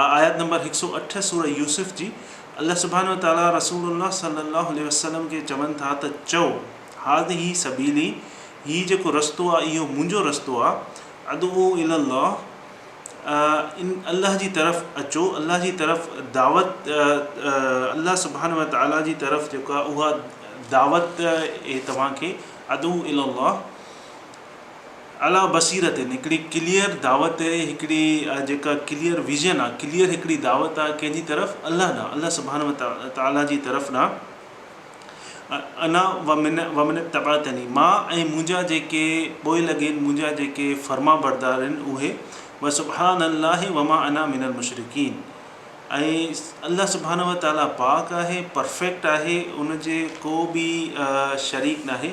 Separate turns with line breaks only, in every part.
آء آيت نمبر هڪ سؤ اٺ سورة يوسف جي، الله سبحانه وتعاليٰ رسول الله صلّي الله عليه وسلّم کي چون ٿا ته چئو، هٰذه سبيلي، هي جيڪو رستو آهي اهو منهنجو رستو آهي، ادعو الي الله، ان الله جي طرف اچو، الله جي طرف دعوت، الله سبحانه وتعاليٰ جي طرف جيڪا اها دعوت اهي توهان کي، ادعو الي الله، اعليٰ بصيرت آهن، هڪڙي ڪليئر دعوت آهي، هڪڙي جيڪا ڪليئر ويزن آهي، ڪليئر هڪڙي دعوت آهي، ڪنهن جي طرف؟ الله ڏانهن، الله سبحانه وتعاليٰ جي طرف ڏانهن، انا ومن اتبعتني، مان ۽ منهنجا جيڪي پوء لڳين، منهنجا جيڪي فرمانبردار آهن اهي، وسبحان الله وما انا من المشرڪين ۽ الله سبحانه وتعاليٰ پاڪ آهي، پرفيڪٽ آهي، ان جي ڪو به شريڪ ناهي.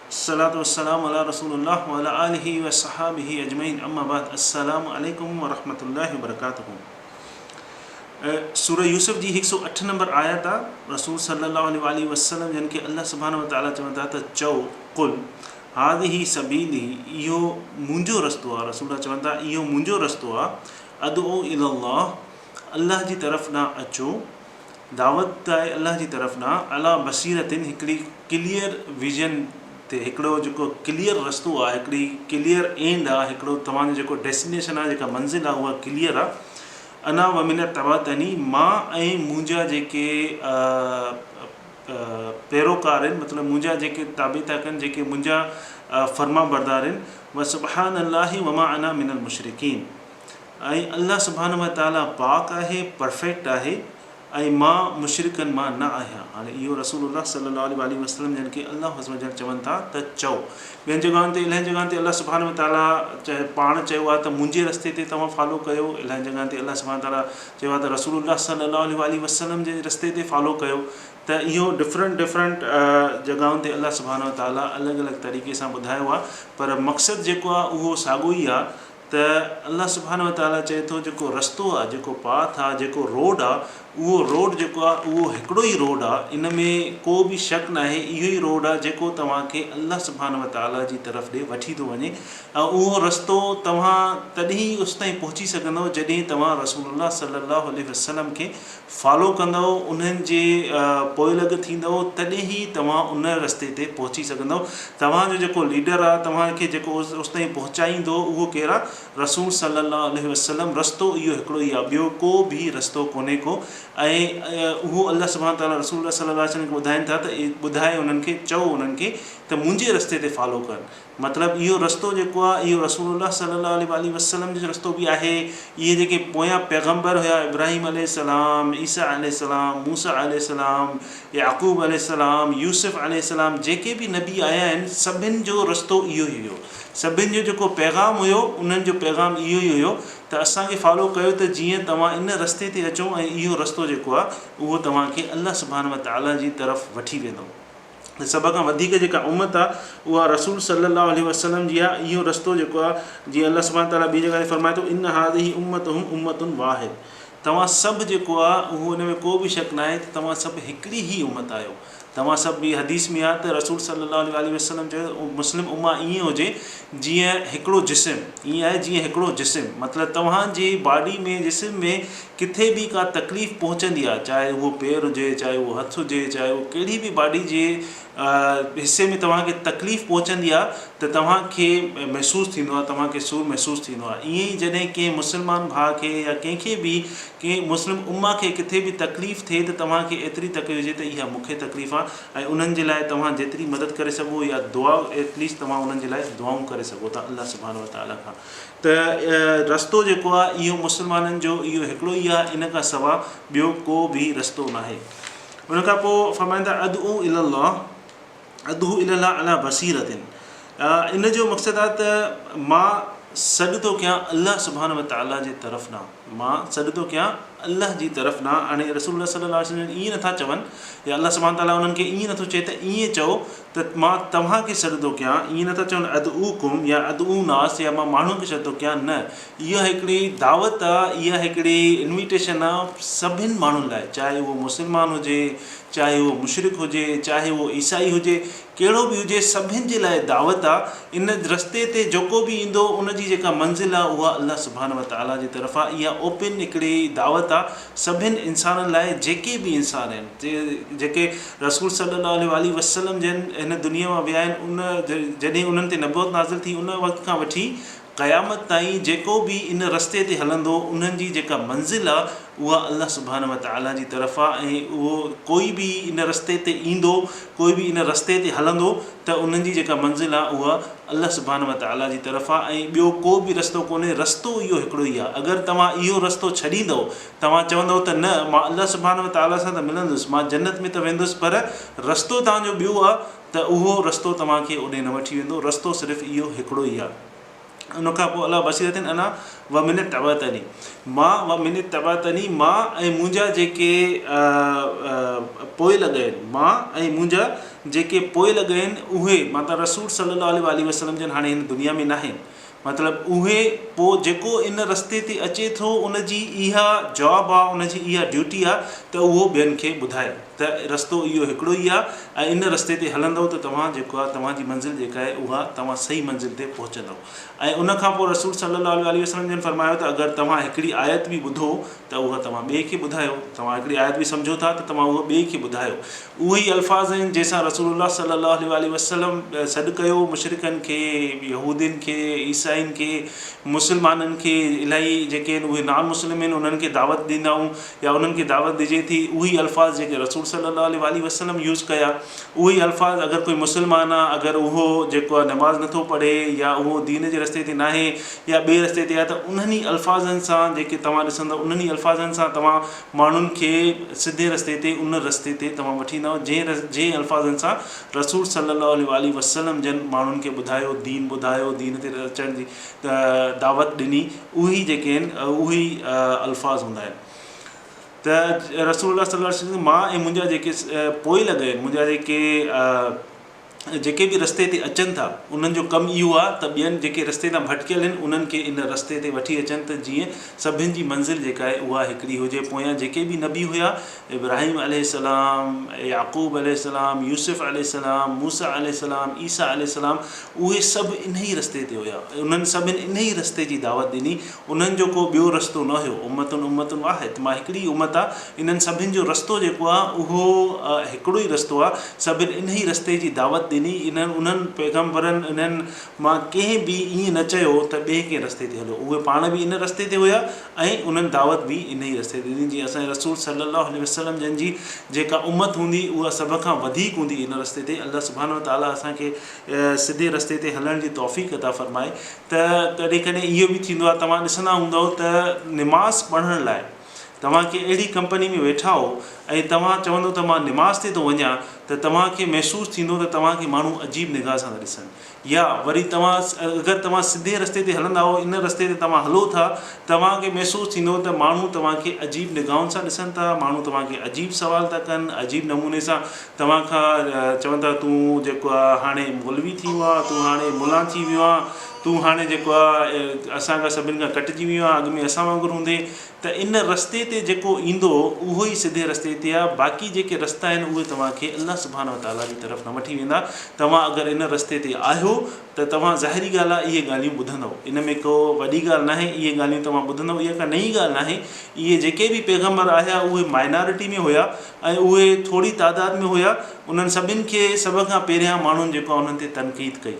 الصلوة والسلام علي رسول الله وعلي آله وصحابه اجمعين اما بعد السلام عليکم ورحمة الله وبرڪاته سورة يوسف جي هڪ سؤ اٺ نمبر آيت آ رسول صلي الله عليه وآله وسلم جن کي الله سبحانه وتعالي چون ٿا ته چئو قل هذه سبيلي اهو منهنجو رستو آ رسول چون ٿا اهو منهنجو رستو آ ادعو الي الله الله جي طرف ڏانهن اچو دعوت آهي الله جي طرف ڏانهن عليٰ بصيرت هڪڙي ڪليئر ويزن تي هڪڙو جيڪو ڪليئر رستو آهي هڪڙي ڪليئر اينڊ آهي هڪڙو توهان جو جيڪو ڊيسٽينيشن آهي جيڪا منزل آهي اها ڪليئر آهي انا ومن اتبعتني مان ۽ منهنجا جيڪي پيروڪار آهن مطلب منهنجا جيڪي تابع ٿا ڪن جيڪي منهنجا فرمانبردار آهن وسبحان الله وما انا من المشرڪين ۽ الله سبحانه وتعاليٰ پاڪ آهي، Perfect، آهي ۽ مان مشرڪن مان نه آهيان. هاڻي اهو رسول الله صلّي الله عليه واٰله وسلّم جن کي الله عزّ وجلّ چون ٿا ته چئو. ٻين جڳهن تي الائين جڳهن تي الله سبحانه وتعاليٰ چاهي پاڻ چيو آهي ته منهنجي رستي تي توهان فالو ڪيو، الائين جڳهن تي الله سبحانه وتعاليٰ چيو آهي ته رسول الله صلّي الله عليه واٰله وسلّم جي رستي تي فالو ڪيو ته اهو Different Different جڳهن تي الله سبحانه وتعاليٰ الڳ الڳ طريقي سان ٻڌايو آهي پر مقصد جيڪو آهي اهو ساڳيو ئي آهي ته الله سبحانه وتعالٰي چئي ٿو جيڪو رستو آ، جيڪو پاٿ آ، جيڪو روڊ آ، اهو روڊ جيڪو آ اهو هڪڙو ئي روڊ آ، ان ۾ ڪو به شڪ ناهي اهو ئي روڊ آ جيڪو توهان کي الله سبحانه وتعالٰي جي طرف ڏي وٺي ٿو وڃي ۽ اهو رستو توهان تڏهن ئي اس تائين پهچي سگهندؤ جڏهن توهان رسول الله صلّي الله عليه وسلّم کي فالو ڪندؤ انهن جي پوئلڳ ٿيندؤ تڏهن هي توهان ان رستي تي پهچي سگهندؤ توهان جو جيڪو ليڊر آ توهان کي جيڪو اس تائين پهچائيندو اهو ڪير آ رسول صلي الله عليه وسلم رستو اهو هڪڙو ئي آ ٻيو ڪو به رستو ڪونهي ڪو ۽ اهو الله سبحانه تعالٰي رسول الله صلي الله عليه وسلم کي ٻڌائين ٿا ته ٻڌاء انهن کي چئو انهن کي ته منهنجي رستي تي فالو ڪن مطلب اهو رستو جيڪو آهي اهو رسول الله صلي الله عليه واٰله وسلم جو رستو به آهي. اهي جيڪي پويان پيغمبر هيا ابراهيم عليه السلام، عيسيٰ عليه السلام، موسيٰ عليه السلام، يعقوب عليه السلام، يوسف عليه السلام جيڪي به نبي آيا آهن سڀن جو رستو اهو ئي هيو. سڀن جو جيڪو پيغام هيو انهن جو پيغام اهو ئي هيو ته اسان کي فالو ڪيو ته جيئن توهان ان رستي تي اچو ۽ اهو رستو جيڪو آهي اهو توهان کي الله سبحانه وتعالٰي جي طرف وٺي ويندو. ۽ سڀ کان وڌيڪ جيڪا امت آ اها رسول صلّي الله عليه وسلّم جي آ اهو رستو جيڪو آ جيئن الله سبحانه وتعالٰي ٻي جڳهه تي فرمائي ٿو ان هٰذه امتهم امّة واحد توهان سڀ جيڪو آ اهو ان ۾ ڪو به شڪ ناهي ته توهان سڀ هڪڙي ئي امت آهيو توهان سڀ ٻي حديث ۾ آ ته رسول صلّي الله عليه واٰله وسلّم چيو ته مسلم امّة ائين هجي جيئن هڪڙو جسم ائين آهي جيئن هڪڙو جسم مطلب توهان جي باڊي ۾ جسم ۾ ڪٿي به ڪا تڪليف پهچندي آهي چاهي اهو پير هجي چاهي اهو هٿ هجي چاهي اهو ڪهڙي به باڊي جي حصي ۾ توهان کي تڪليف پهچندي آهي ته توهان کي محسوس ٿيندو آهي توهان کي سور محسوس ٿيندو آهي ائين ئي جڏهن ڪنهن مسلمان ڀاء کي يا ڪنهن کي به ڪنهن مسلم امه کي ڪٿي به تڪليف ٿئي ته توهان کي ايتري تڪليف هجي ته اها مون کي تڪليف آهي ۽ انهن جي لاء توهان جيتري مدد ڪري سگهو يا دعا ائٽ ليسٽ توهان انهن جي لاء دعائون ڪري سگهو ٿا الله سبحانه وتعالي کان ته رستو جيڪو آهي اهو مسلمانن جو اهو هڪڙو ئي آهي ان کان سوا ٻيو ڪو به رستو ناهي ان کان پوء فرمائن ٿا ادعو الي الله ادعو الي الله علی بصيرت ان جو مقصد آهي ته مان سڏ ٿو ڪيان الله سبحانه وتعاليٰ جي طرف ڏانهن مان سڏ ٿو ڪيان الله جي طرف ڏانهن هاڻي رسول الله صلي الله عليه وسلم ائين نٿا چون يا الله سبحانه تعاليٰ انهن کي ائين نٿو چئي ته ائين چئو ته مان توهان کي سڏ ٿو ڪيان، ائين نٿا چون ادعوڪم يا ادعو ناس يا مان ماڻهن کي سڏ ٿو ڪيان، نه اها هڪڙي دعوت آ، اها هڪڙي Invitation آ سڀن ماڻهن لاء چاهي اهو مسلمان هجي، چاهي اهو مشرڪ هجي، چاهي اهو عيسائي هجي، ڪهڙو به هجي سڀن جي لاء دعوت آ، ان رستي تي جيڪو به ايندو ان جي جيڪا منزل آ اها الله سبحانه وتعالٰي جي طرف آ، اها Open هڪڙي دعوت آ سڀن انسانن لاء جيڪي به انسان آهن جيڪي رسول صلّي اللّٰه عليه واٰله وسلّم جن هن دنيا مان ويا آهن ان جڏهن انهن تي نبوت نازل ٿي ان وقت کان وٺي قيامت تائين جيڪو به ان رستي تي هلندو انهن جي جيڪا منزل آ اها الله سبحانه وتعالٰي جي طرف آ ۽ اهو ڪوئي به ان رستي تي ايندو ڪوئي به ان رستي تي هلندو ته انهن جي جيڪا منزل آ اها الله سبحانه وتعالٰي جي طرف آ ۽ ٻيو ڪو به رستو ڪونهي رستو اهو هڪڙو ئي آ اگر توهان اهو رستو ڇڏيندؤ توهان چوندؤ ته نه، مان الله سبحانه وتعاليٰ سان ته ملندس، مان جنت ۾ ته ويندس پر رستو توهان جو ٻيو آهي ته اهو رستو توهان کي اوڏي نه وٺي ويندو، رستو صرف اهو هڪڙو ئي آهي. ان کان پوء علا بصيرة انا ومن اتبعني مان ومن اتبعني مان ۽ منهنجا جيڪي پوئلڳ آهن مان ۽ منهنجا جيڪي پوئلڳ آهن اهي مطلب رسول صلّي اللّٰه عليه واٰله وسلّم جن هاڻي هن دنيا ۾ ناهن، مطلب اهي پوء جيڪو ان رستي تي اچي ٿو ان جي اها جاب آ ان جي اها ڊيوٽي آ ته اهو ٻين کي ٻڌائي ته رستو اهو هڪڙو ئي آ ۽ ان رستي تي هلندؤ ته توهان جيڪو آ توهان جي منزل جيڪا آهي اها توهان صحيح منزل تي پهچندؤ ۽ ان کان پوء رسول صلّي اللّٰه عليه وسلّم جن فرمايو ته اگر توهان هڪڙي آيت به ٻڌو ته اها توهان ٻئي کي ٻڌايو توهان هڪڙي آيت به سمجهو ٿا ته توهان اها ٻئي کي ٻڌايو اهي ئي الفاظ آهن جنهن سان رسول الله صلي الله عليه واٰله وسلم سڏ ڪيو مشرڪن کي، يهودين کي، عيسائين کي، مسلمانن کي، الائي جيڪي آهن اهي نان مسلم آهن انهن کي دعوت ڏيندائون يا انهن کي دعوت ڏجي ٿي اهي ئي الفاظ جيڪي رسول صلي الله عليه واٰله وسلم يوز ڪيا اهي ئي الفاظ اگر ڪوئي مسلمان آهي اگر اهو جيڪو آهي نماز نٿو پڙهي يا اهو دين جي رستي تي ناهي يا ٻئي رستي تي آهي ته انهن ئي الفاظن سان جيڪي توهان ڏسندو انهن ئي الفاظن سان توهان ماڻهن کي سڌي رستي تي ان رستي تي توهان وٺي ايندائو جنهن جنهن الفاظن سان رسول صلي الله عليه واٰله وسلم جن ماڻهن کي ٻڌايو دين ٻڌايو دين تي اچڻ جي دعوت ڏني اهي جيڪي آهن اهي الفاظ هوندا آهن ته رسول الله صلي الله عليه وسلم مان ۽ منهنجا جيڪي پوئلڳ آهن منهنجا جيڪي جيڪي به رستي تي اچن ٿا انهن جو ڪم اهو آ ته ٻين جيڪي رستي تان ڀٽڪيل هن انهن کي ان رستي تي وٺي اچن ته جيئن سڀن جي منزل جيڪا آهي اها هڪڙي هجي پويان جيڪي به نبي هيا ابراهيم عليه السلام يعقوب عليه السلام يوسف عليه السلام موسي عليه السلام عيسي عليه السلام اهي سڀ انهي رستي تي هيا انهن سڀن انهي رستي جي دعوت ڏني انهن جو ڪو ٻيو رستو نه هيو، امة امة واحد، مان هڪڙي ئي امت آهيان، انهن سڀن جو رستو جيڪو آهي اهو هڪڙو ئي رستو آهي، سڀن انهيء رستي جي دعوت ڏني، انهن انهن پيغمبرن انهن مان ڪنهن به ائين نه چيو ته ٻئي ڪنهن رستي تي هليو، اهي پاڻ به ان رستي تي هيا ۽ انهن دعوت به انهيء رستي تي ڏني، جيئن اسان جي رسول صلّي اللّٰه عليه وسلّم جن جي جيڪا امت هوندي اها سڀ کان وڌيڪ هوندي ان رستي تي، الله سبحانه وتعالٰي اسان کي. سڌي رستي تي هلڻ جي توفيق عطا فرمائي ته ڪڏهن ڪڏهن اهو به ٿيندو آهي توهان ڏسندا هوندؤ ته نماز پڙهڻ لاء توهان ڪنهن اهڙي ڪمپني ۾ ويٺا هو ۽ توهان چوندؤ ته مان نماز تي ٿو وڃان ته توهان کي محسوس ٿيندو ته توهان کي ماڻهو عجيب نگاهه سان ٿا ڏسن يا وري توهان اگر توهان سڌي رستي تي هلندا هو ان رستي تي توهان هلو ٿا توهان کي محسوس ٿيندو ته ماڻهو توهان کي عجيب نگاهن سان ڏسن ٿا ماڻهو توهان کي عجيب سوال ٿا ڪن عجيب نموني سان توهان کان چون ٿا تون جيڪو آ هاڻي مولوي ٿي ويو آ تون هاڻي ملان ٿي ويو آ تون هاڻي جيڪو آ اسان کان سڀن کان ڪٽجي ويو آ اڳ ۾ اسان وانگر هوندي ته ان رستي تي جيڪو ايندو اهو ئي سڌي رستي تي آ باقي جيڪي رستا آهن اهي توهان کي الله سبحانه وتعالي جي طرف نه وٺي ويندا توهان اگر ان رستي تي آهيو ته توهان ظاهري ڳالهه آ اهي ڳالهيون ٻڌندؤ ان ۾ ڪو وڏي ڳالهه ناهي اهي ڳالهيون توهان ٻڌندؤ اها ڪا نئين ڳالهه ناهي اهي جيڪي به پيغمبر آيا اهي مائنارٽي ۾ هيا ۽ اهي ٿوري تعداد ۾ هيا انهن سڀن کي سڀ کان پهريان ماڻهن جيڪا انهن تي تنقيد ڪئي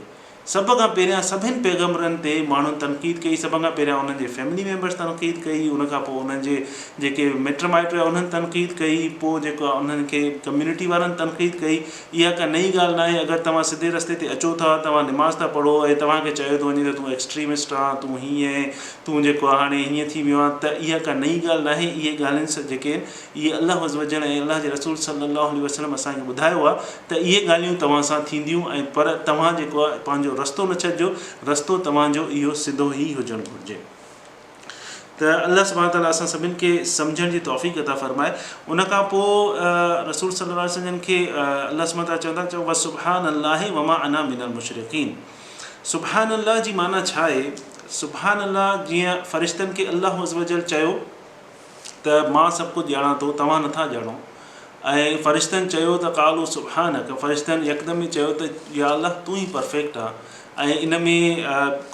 سڀ کان پهريان سڀين پيغمبرن تي ماڻهن تنقيد ڪئي سڀ کان پهريان انهن جي فيملي ميمبرس تنقيد ڪئي ان کان پوء انهن جي جيڪي مٽ مائٽ هيا انهن تنقيد ڪئي پوء جيڪو آهي انهن کي ڪميونٽي وارن تنقيد ڪئي اها ڪا نئين ڳالهه ناهي اگر توهان سڌي رستي تي اچو ٿا توهان نماز ٿا پڙهو ۽ توهان کي چيو ٿو وڃي ته تون ايڪسٽريمسٽ آهن تون هيئن تون جيڪو آهي هاڻي هيئن ٿي ويو آهن ته اها ڪا نئين ڳالهه ناهي اهي ڳالهين جيڪي اهي الله عزّوجلّ ۽ الله جي رسول صلّي اللّٰه عليه وسلّم اسان کي ٻڌايو آهي ته اهي ڳالهيون توهان سان ٿينديون ۽ پر توهان جيڪو آهي پنهنجو رستو نه ڇڏجو رستو توهان جو اهو سڌو ئي هجڻ گهرجي ته الله سبحانه وتعالٰي اسان سڀني کي سمجهڻ جي توفيق عطا فرمائي ان کان پوء رسول صلّي اللّٰه عليه وسلّم کي الله سبحانه وتعالٰي چون ٿا چئو وسبحٰن الله وما انا من المشرقين سبحٰن الله جي معنيٰ ڇا آهي سبحٰن الله جيئن فرشتن کي الله عزّوجلّ چيو ته مان سڀ ڪجهه ڄاڻان ٿو، توهان نٿا ڄاڻو. ۽ فرشتن چيو ته قالوا سبحانک فرشتن يڪدم ئي چيو ته يا الله تون ئي پرفيڪٽ آهين ۽ ان ۾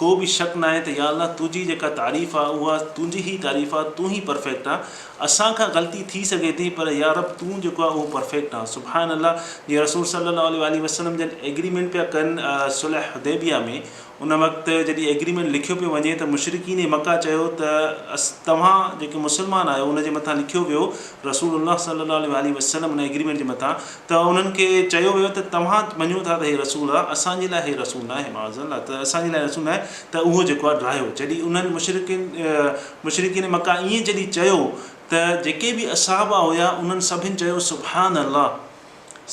ڪو به شڪ ناهي ته يا الله تنهنجي جيڪا تعريف آهي اها تنهنجي ئي تعريف آهي تون ئي پرفيڪٽ آهين اسان کان غلطي ٿي سگهي ٿي پر يا رب تون جيڪو آهي اهو پرفيڪٽ آهين سبحان الله جي رسول صلّي اللّٰه عليه واٰله وسلّم جن ايگريمينٽ پيا ڪن صلح حديبيه ۾ ان وقت جڏهن ايگريمينٽ لکيو پيو وڃي ته مشرڪين مڪه چيو ته توهان جيڪي مسلمان آهيو ان جي مٿان لکيو ويو رسول الله صلي الله عليه واٰله وسلم ان ايگريمينٽ جي مٿان ته انهن کي چيو ويو ته توهان مڃو ٿا ته هي رسول آهي اسان جي لاء هي رسول ناهي معاذ الله ته اسان جي لاء رسول ناهي ته اهو جيڪو آهي ڊاهيو جڏهن انهن مشرڪين مشرڪين مڪه ائين جڏهن چيو ته جيڪي به اصحابه هيا انهن سڀن چيو سبحان الله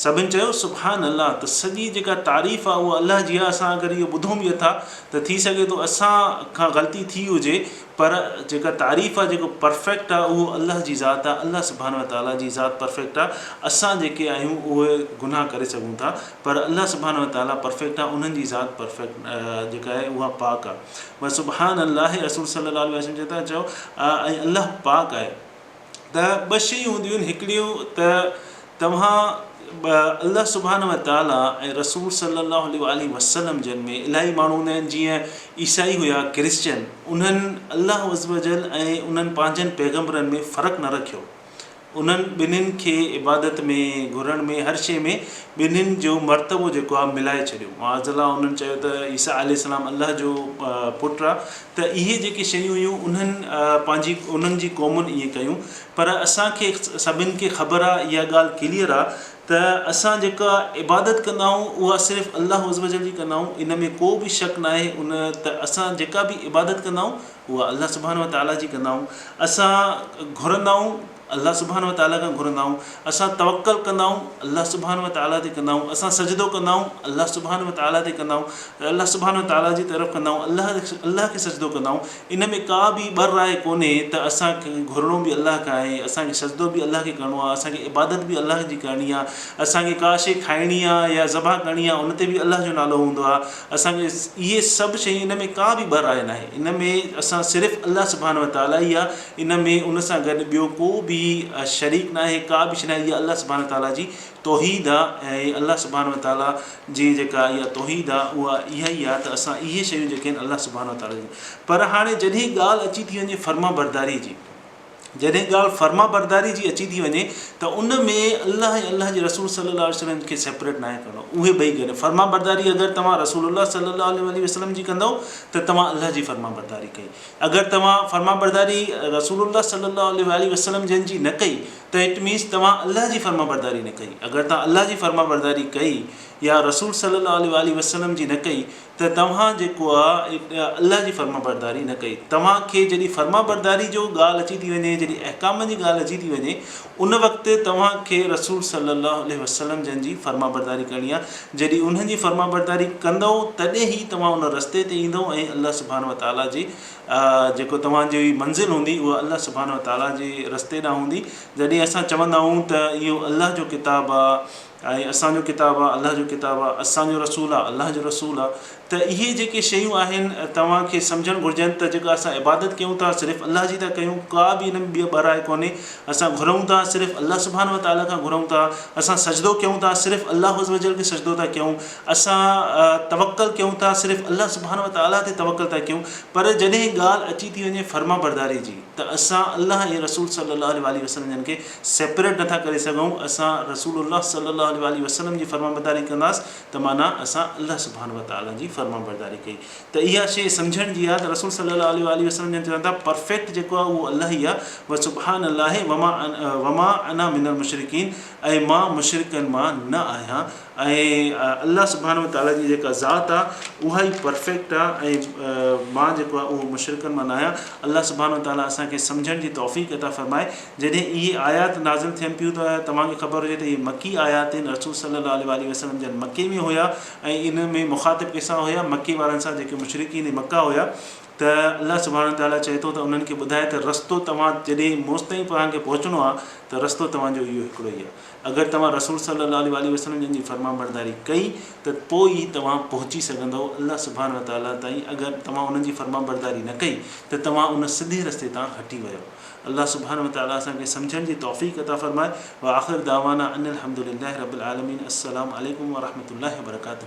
سڀن چيو سبحان الله ته سڄي جيڪا تعريف آ اها الله جي آ اسان اگر اهو ٻڌون به اٿا ته ٿي سگهي ٿو اسان کان غلطي ٿي هجي پر جيڪا تعريف آ جيڪو پرفيڪٽ آ اهو الله جي ذات آ الله سبحانه وتعاليٰ جي ذات پرفيڪٽ آ اسان جيڪي آهيون اهي گناهه ڪري سگهون ٿا پر الله سبحانه وتعاليٰ پرفيڪٽ آ انهن جي ذات پرفيڪٽ جيڪا آهي اها پاڪ آ بس سبحان الله رسول صلي الله عليه وسلم چئي ٿا چئو ۽ الله پاڪ آهي ته ٻه شيون هونديون آهن هڪڙيون ته توهان الله سبحان و تعالٰي ۽ رسول صلي الله عليه وآله وسلم جن ۾ الاهي ماڻهو هوندا آهن جيئن عيسائي هيا ڪرسچن انهن الله عز و جل ۽ انهن پنهنجن پيغمبرن ۾ فرق نه رکيو انهن ٻنهن کي عبادت ۾ گهرڻ ۾ هر شيء ۾ ٻنهن جو مرتبو جيڪو آهي ملائي ڇڏيو معاذ الله انهن چيو ته عيسيٰ عليه السلام الله جو پٽ آهي ته اهي جيڪي شيون هيون انهن پنهنجي انهن جي قومن ائين ڪيون پر اسان کي سڀن کي خبر آ اها ڳالهه ڪليئر آ ته اسان جيڪا عبادت ڪندا آهيون اها صرف الله عزّوجلّ جي ڪندا آهيون ان ۾ ڪو به شڪ ناهي ان ته اسان جيڪا به عبادت ڪندا آهيون اها الله سبحانه وتعالٰي جي ڪندا آهيون اسان گهرندا آهيون الله سبحانه وتعاليٰ کان گهرندائون، اسان توڪل ڪندائون الله سبحانه وتعاليٰ تي ڪندائون، اسان سجدو ڪندائون الله سبحانه وتعاليٰ تي ڪندائون ته الله سبحانه وتعاليٰ جي طرف ڪندائون الله الله کي سجدو ڪندائون ان ۾ ڪا به ٻه راء ڪونهي ته اسان کي گهرڻو به الله کان آهي اسان کي سجدو به الله کي ڪرڻو آهي اسان کي عبادت به الله جي ڪرڻي آهي اسان کي ڪا شيء کائڻي آهي يا ذبح ڪرڻي آهي ان تي به الله جو نالو هوندو آهي اسان کي اهي سڀ شيء ان ۾ ڪا به ٻه راء ناهي ان ۾ اسان صرف الله سبحانه وتعاليٰ يا ان ۾ ان سان گڏ ٻيو ڪو به شريڪ ناهي، ڪا به شيء ناهي، اها الله سبحانه وتعاليٰ جي توحيد آ ۽ الله سبحانه وتعاليٰ جي جيڪا اها توحيد آ اها اها ئي آ ته اسان اهي شيون جيڪي آهن الله سبحانه وتعاليٰ جون پر هاڻي جڏهن ڳالهه اچي ٿي وڃي فرمانبرداري جي جڏهن ڳالهه فرمانبرداري جي اچي ٿي وڃي ته ان ۾ الله ۽ الله جي رسول صلي الله عليه وسلم کي سيپريٽ ناهي ڪرڻو اهي ٻئي گڏ فرمانبرداري اگر توهان رسول الله صلي الله عليه وسلم جي ڪندؤ ته توهان الله جي فرمانبرداري ڪئي اگر توهان فرمانبرداري رسول الله صلّي الله عليه واٰله وسلّم جن جي نه ڪئي ته اٽ مينز توهان الله جي فرمانبرداري نه ڪئي، اگر توهان الله جي فرمانبرداري ڪئي يا رسول صلّي الله عليه واٰله وسلّم جي نه ڪئي ته توهان جيڪو آ اٽ الله جي فرمانبرداري نه ڪئي. توهان کي جڏهن فرمانبرداري جو ڳالهه اچي ٿي وڃي، جڏهن احڪامن جي ڳالهه اچي ٿي وڃي، ان وقت توهان کي رسول صلّي اللّٰه عليه وسلّم جن جي فرمانبرداري ڪرڻي آهي، جڏهن انهن جي فرمانبرداري ڪندؤ تڏهن ئي توهان ان رستي تي ايندؤ ۽ الله سبحانه وتعاليٰ جي جيڪو توهان جي منزل هوندي اها الله سبحانه وتعاليٰ جي رستي ڏانهن هوندي، جڏهن اسان چوندا آهيون ته اهو الله جو ڪتاب آ. ۽ اسان جو ڪتاب آ، الله جو ڪتاب آ، اسان جو رسول آ، الله جو رسول آ، ته اهي جيڪي شيون آهن توهان کي سمجهڻ گهرجن ته جيڪا اسان عبادت ڪيون ٿا صرف الله جي ٿا ڪيون ڪا به ان ۾ ٻيء ٻه راء ڪونهي اسان گهرون ٿا صرف الله سبحانه وتعالٰي کان گهرون ٿا اسان سجدو ڪيون ٿا صرف الله عزّوجلّ کي سجدو ٿا ڪيون اسان توڪّل ڪيون ٿا صرف الله سبحانه وتعالٰي تي توڪّل ٿا ڪيون پر جڏهن ڳالهه اچي ٿي وڃي فرمانبرداري جي ته اسان الله ۽ رسول صلّي الله عليه واٰله وسلّم جن کي سيپريٽ نٿا ڪري سگهون اسان رسول الله صلي الله عليه واٰله وسلم جي فرمانبرداري ڪنداس ته معنيٰ اسان الله سبحانه وتعالٰي جي فرمانبرداري ڪئي ته اها شيء سمجهڻ جي آهي ته رسول صلي الله عليه واٰله وسلم جنھن چون ٿا پرفيڪٽ جيڪو آهي اهو الله ئي آهي وسبحان الله وما انا من المشرڪين ۽ مان مشرڪن مان نه آهيان ۽ الله سبحانه وتعاليٰ جي جيڪا ذات آ اها ئي پرفيڪٽ آ ۽ مان جيڪو آ اهو مشرڪن مان ناهيان الله سبحانه وتعاليٰ اسان کي سمجهڻ جي توفيق عطا فرمائي جڏهن اهي آيات نازل ٿين پيون ته توهان کي خبر هجي ته اهي مڪي آيات آهن رسول صلي الله عليه واٰله وسلم جن مڪي ۾ هيا ۽ ان ۾ مخاطب ڪنهن سان هيا مڪي وارن سان جيڪي مشرڪين مڪه هيا ته الله سبحانه وتعاليٰ چئي ٿو ته انهن کي ٻڌاء ته رستو توهان جڏهن مستائين توهان کي پهچڻو آ ته رستو توهان جو اهو هڪڙو ئي آ اگر توهان رسول صلّي اللّٰه عليه واٰله وسلّم جن جي فرمانبرداري ڪئي ته پوء ئي توهان پهچي سگهندؤ الله سبحانه وتعالٰي تائين اگر توهان انهن جي فرمانبرداري نه ڪئي ته توهان ان سڌي رستي تان هٽي ويؤ الله سبحانه وتعالٰي اسان کي سمجهڻ جي توفيق عطا فرمائي واخر دعوانا ان الحمدلله رب العالمين السّلام عليڪم ورحمة الله وبرڪاته.